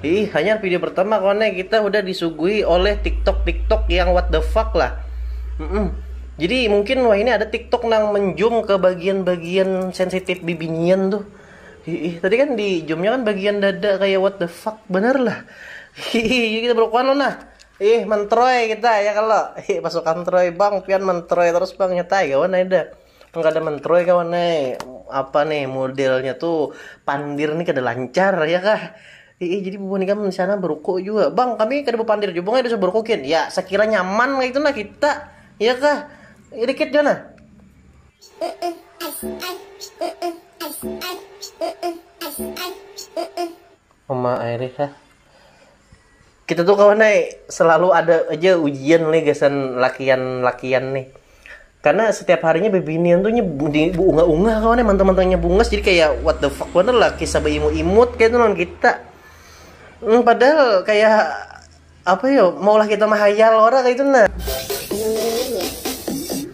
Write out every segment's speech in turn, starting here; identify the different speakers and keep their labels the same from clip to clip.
Speaker 1: Iih hanyar video pertama kawan eh kita hudah disuguhi oleh tiktok tiktok yang what the fuck lah mm -mm. jadi mungkin wah ini ada tiktok nang menjum ke bagian-bagian sensitif bibinian tuh Iih, tadi kan di zoomnya kan bagian dada kayak what the fuck bener lah Iih, kita berkuan lo nah Ih, mentroy kita ya kalau. Ih, pasukan troy bang, pian mentroy terus bang nyetai kawan ada. Nang kada mentroi kawan ai, apa nih modelnya tu pandir nih kada lancar ya kah. Iih jadi bubuhan ikam di sana beruko jua. Bang, kami kada bepandir jua bang, bisa beruko gin. Ya, sekira nyaman kaya itu nah kita. Ya kah? Irikit jua nah. Mama airih kah? Kita tuh kawan ay, selalu ada aja ujian leh gasan lakian-lakian nih. Karena setiap harinya bebinian tuh nya di unga-unga kawan ay, mantang-mantangnya bungas jadi kayak what the fuck bener lah kisah beimut-imut kayak itu lawan kita. Hmm, padahal kayak apa ya, maulah kita mahayal orang kayak itu nah.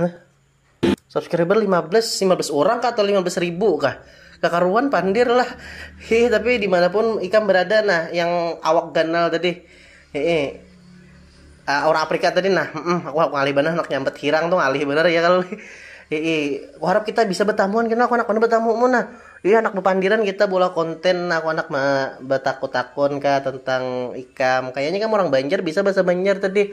Speaker 1: Hah? Subscriber 15, 15 orang kah atau 15 ribu kah? Kakaruan pandir lah. Hi, tapi dimanapun ikam berada nah, yang awak ganal tadi. Hehe. Uh, ah, orang Afrika tadi nah, mm, aku ngalih benar nak nyambat hirang tuh ngalih benar ya kalau. Hehe. Aku harap kita bisa bertamuan kena aku anak mana bertamu mu nah. Iya anak berpandiran kita bola konten nah, aku anak bertakut-takun kah tentang ikam. Kayaknya kamu orang Banjar bisa bahasa Banjar tadi.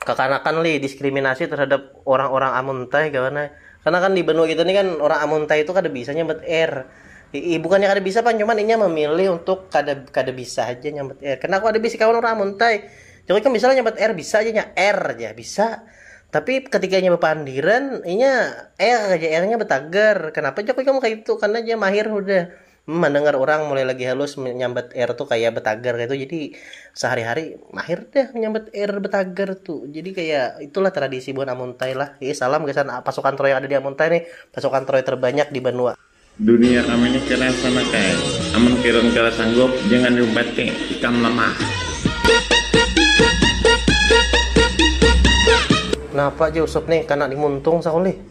Speaker 1: kekanakan lih diskriminasi terhadap orang-orang amuntai kawan eh. Karena kan di benua kita ini kan orang amuntai itu kada bisa nyambat R. I, bukannya kada bisa pan cuman inya memilih untuk kada kada bisa aja nyambat R. Karena aku ada bisi kawan orang amuntai. Jadi kan bisa nyambat R bisa aja nya R aja bisa. Tapi ketika inya bepandiran inya R aja R-nya betagar. Kenapa jago kamu kayak itu? Karena dia mahir udah Mandangar urang mulai lagi halus manyambat air tu kaya betagar kayatu jadi sahari-hari mahir dah manyambat air betagar tu jadi kaya itulah tradisi buhan Amuntai lah hi salam gasan pasukan troy yang ada di Amuntai nih pasukan troy terbanyak di banua. Dunia kami ni
Speaker 2: keras banar kai. Amun kiron kada sanggup jangan diumpat ti, ikam lamah.
Speaker 1: Napa ja Usup nih, kana dimuntung sakulih.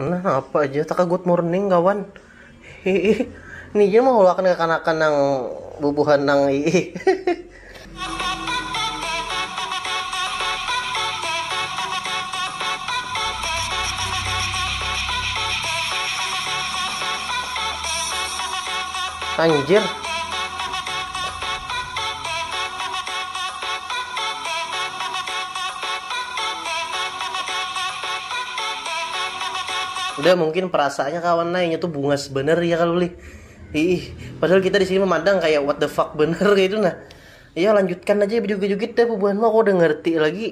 Speaker 3: Nah, apa ja
Speaker 1: taka good morning kawan. Hiih. Ni ja maulakan kakanakan nang bubuhan nang hiih. Anjir. Udah mungkin perasaannya kawan nai nya tuh bungas bener ya kalau lih. Ih, padahal kita di sini memandang kayak what the fuck bener kayak itu nah. Iya lanjutkan aja berjoget-joget dah bubuhan mah aku udah ngerti lagi.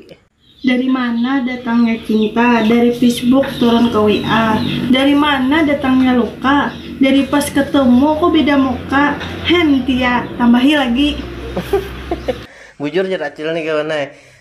Speaker 1: Dari mana
Speaker 4: datangnya cinta, dari Facebook turun ke WA Dari mana datangnya luka, dari pas ketemu kok beda muka Hen, Tia, tambahi lagi.
Speaker 1: Bujur jar acil nih kawan nai.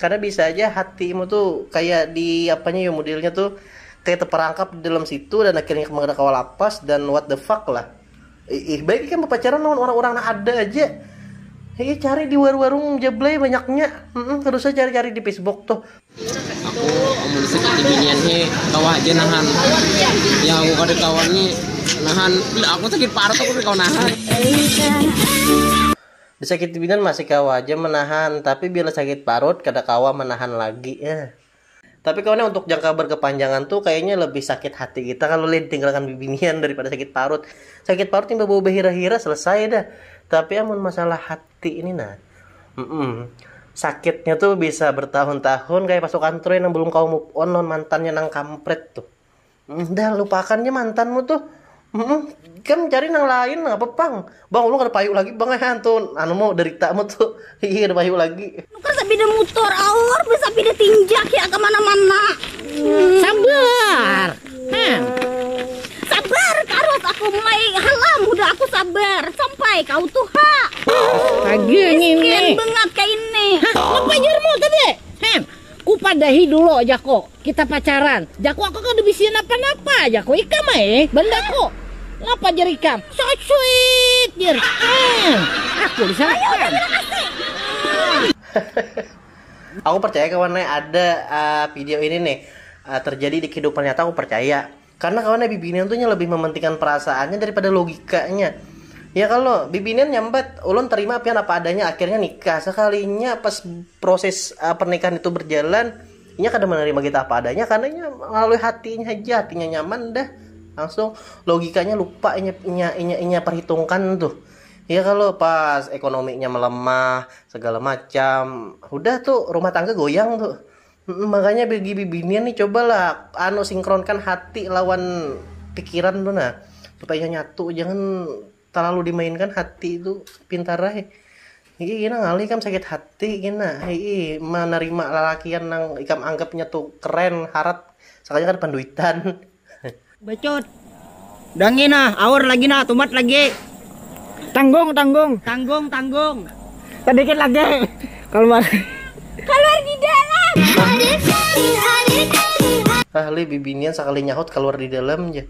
Speaker 1: Kada bisa aja hati mu tu kaya di apanya yo modelnya tu kaya teperangkap di dalam situ dan akhirnya kamu kada kawa lapas dan what the fuck lah. Iih baik ikam bepacaran lawan urang-urang nang ada aja. Iih cari di warung-warung jablay banyaknya. Heeh kada usah cari-cari di Facebook tuh. Aku
Speaker 5: amun seperti binian he kawa haja nahan. Yang aku kada kawa ni nahan. Aku sakit parut aku kada kawa nahan.
Speaker 1: Disakiti bidan masih kawa haja menahan, tapi bila sakit parut kada kawa menahan lagi eh. Tapi kawan eh untuk jangka berkepanjangan tu kayaknya lebih sakit hati kita kalo leh ditinggalkan bibinian daripada sakit parut. Sakit parut imbah bawa bahira-hira selesai dah. Tapi amun masalah hati ini nah, mm-mm, sakitnya tu bisa bertahun-tahun kaya pasukan Troy nang belum kawa move on lawan mantannya nang kampret tuh. Dah lupakan je mantanmu tuh. Mm-mm. Kan cari nang lain nggak apa pang. Bang ulun kada payu lagi bang eh tuh anu mau derita mu tuh. Iya kada payu lagi. Nukar sapida mutor
Speaker 6: aur besapida tinjak ya kemana mana. Sabar. Hmm. Sabar karut aku mulai halam udah aku sabar sampai kau tuh ha. Astaga
Speaker 7: ini. Miskin banget kayak ini.
Speaker 6: Hah, apa jarmu
Speaker 7: tadi? Kupadahi dulu jaku, kita pacaran. Jaku aku kada bisian napa-napa jaku ikam ai bandaku. Napa jer ikam, so sweet jer. Emm, aku disalakan.
Speaker 1: Aku percaya kawan ne ada video ini nih terjadi di kehidupan nyata aku percaya. Karena kawannya bibinian tuh nya lebih mementingkan perasaannya daripada logikanya. Ya kalau bibinian nyambat, ulun terima pian apa adanya akhirnya nikah. Sekalinya pas proses uh, pernikahan itu berjalan, inya kada menerima kita apa adanya karena inya melalui hatinya aja, hatinya nyaman dah. Langsung logikanya lupa inya inya inya, inya perhitungkan tuh. Ya kalau pas ekonominya melemah, segala macam, udah tuh rumah tangga goyang tuh. Heeh makanya bagi bibinian nih cobalah anu sinkronkan hati lawan pikiran tu nah supaya nyatu jangan terlalu dimainkan hati tu pintar ai hihi kena ngalih ikam sakit hati kena hihi menerima lalakian nang ikam anggapnya tu keren harat sekalinya kada panduitan.
Speaker 7: Becut. Dangi nah, aur lagi nah, tumat lagi. Tanggung, tanggung. Tanggung, tanggung. Sedikit lagi. Keluar. Keluar di dalam.
Speaker 1: Ahli bibinian sakali nyahut keluar di dalam ja.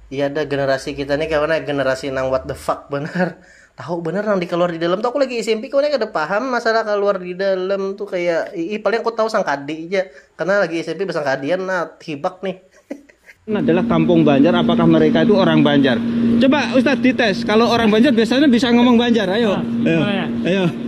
Speaker 1: Iya dah generasi kita nih kawan ya generasi nang what the fuck banar. tahu benar nang di kaluar di dalam tuh aku lagi SMP kau kada paham masalah kaluar di dalam tuh kayak ih paling aku tahu sangkadi aja karena lagi SMP bersangkadian nah hibak nih adalah
Speaker 8: kampung Banjar apakah mereka itu orang Banjar coba Ustadz dites kalau orang Banjar biasanya bisa ngomong Banjar ayo ayo, ayo.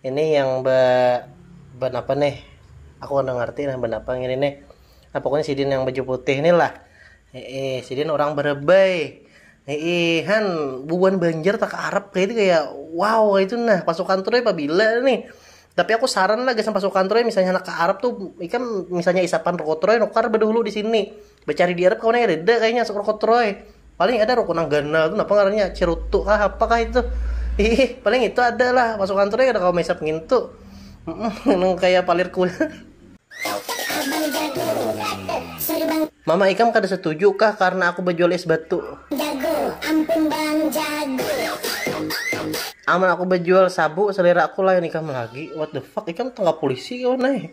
Speaker 1: Ini yang be benapa nih? Aku kada ngerti nah benapa ngini nih. Nah pokoknya sidin yang baju putih nih lah. Heeh, sidin orang berebai. Heeh, han bubuhan Banjar tak Arab kayak itu kayak wow kayak itu nah pasukan Troy pabila nih. Tapi aku saran lah gasan pasukan Troy misalnya anak ke Arab tuh ikan misalnya isapan Roko Troy nukar bedahulu di sini. Becari di Arab kawan ai kadada kayanya asap rokok troy, paling ada rokok nang ganal tu napa ngarannya cerutu kah apa kah itu iih paling itu ada lah masuk kantor ai kada kawa maisap ngintu mm nang kaya palir kulit. Mama ikam kada setuju kah karna aku bajual es batu. Amun aku bajual sabu selera aku lain ikam lagi what the fuck ikam tangkap polisi kawan ai.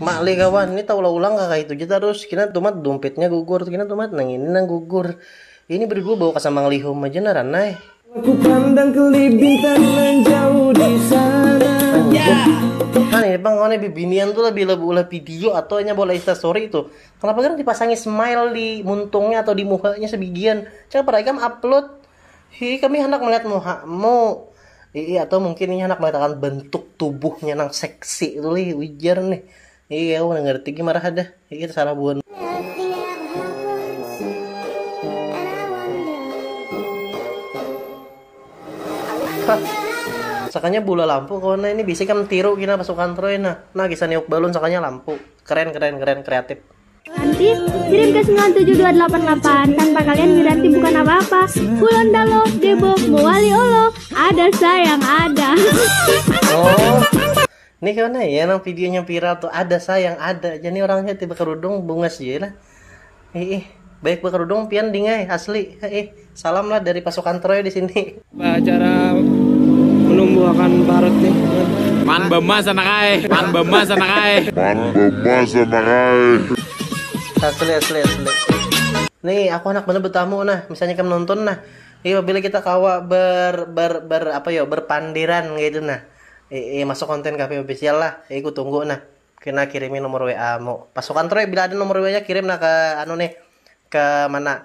Speaker 1: Mak leh kawan, ini taulah-ulang kah kaitu ja tarus, kina tumat dumpitnya gugur, kina tumat nang ini nang gugur. Ini berigu bawa kasamang lihum haja naran ai.
Speaker 9: Nah
Speaker 1: ini pang kawan bibinian tu lah bila beulah video atau inya beulah instastory tu kenapa garang dipasangi smile di muntungnya atau di muhanya sebigian, cakap ar ikam upload. Hi, kami handak melihat muhamu. Ii, atau mungkin inya handak melihat akan bentuk tubuhnya nang seksi tu lih, ujar nih. Ii, aku kada ngerti gin marah hadah. Ii, tasarah buhan. Hah, sakanya bula lampu kawan nah ini bisi kam tiru gin nah pasukan troy nah. Nah, kisah niup balun sakanya lampu. Keren, keren, keren, kreatif. Nanti
Speaker 10: kirim ke 97288 tanpa kalian Wiranti bukan apa-apa. Kulon Dalo, Debok, Muali Olo, ada sayang ada. Oh.
Speaker 1: Ini karena ya nang videonya viral tuh ada sayang ada. Jadi orangnya tiba kerudung bungas ya lah. Ih, baik baik berkerudung pian dingai asli. Ih, Salam lah dari pasukan Troy di sini. Cara
Speaker 5: menumbuhkan parut nih. Man bema sana kai. Man bema sana kai. Man bema sana kai.
Speaker 1: Asli asli asli. Nih aku anak bener bertamu nah, misalnya kamu nonton nah. Iya bila kita kawa ber ber ber apa yo berpandiran gitu nah. Eh, eh masuk konten kafe official lah. Eh ku tunggu nah. Kena kirimin nomor WA mu. Pasukan Troy bila ada nomor WA-nya kirim nah ke anu nih. Ke mana?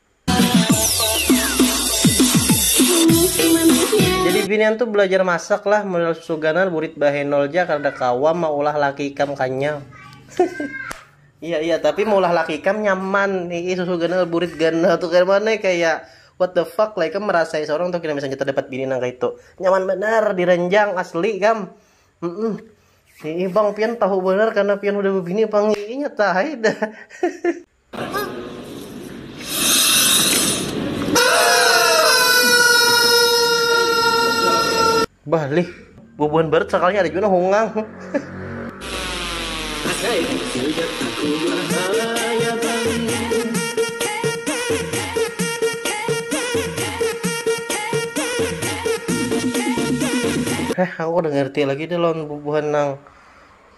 Speaker 1: Jadi binian tu belajar masak lah modal susuganan burit bahenol ja kada kawa maulah laki ikam kanyang. Iya iya tapi maulah laki ikam nyaman ii susu ganal burit ganal tu kaya mana kaya what the fuck lah ikam merasai seorang tu kena misalnya kita dapat bini nang kaya itu nyaman banar diranjang asli kam mm -mm. Ii bang pian tahu banar karena pian udah bebini pang ii nyata hai dah Bah, lih, bubuhan barat sakalnya ada juga hongang. Heh, aku udah ngerti lagi deh lawan bubuhan nang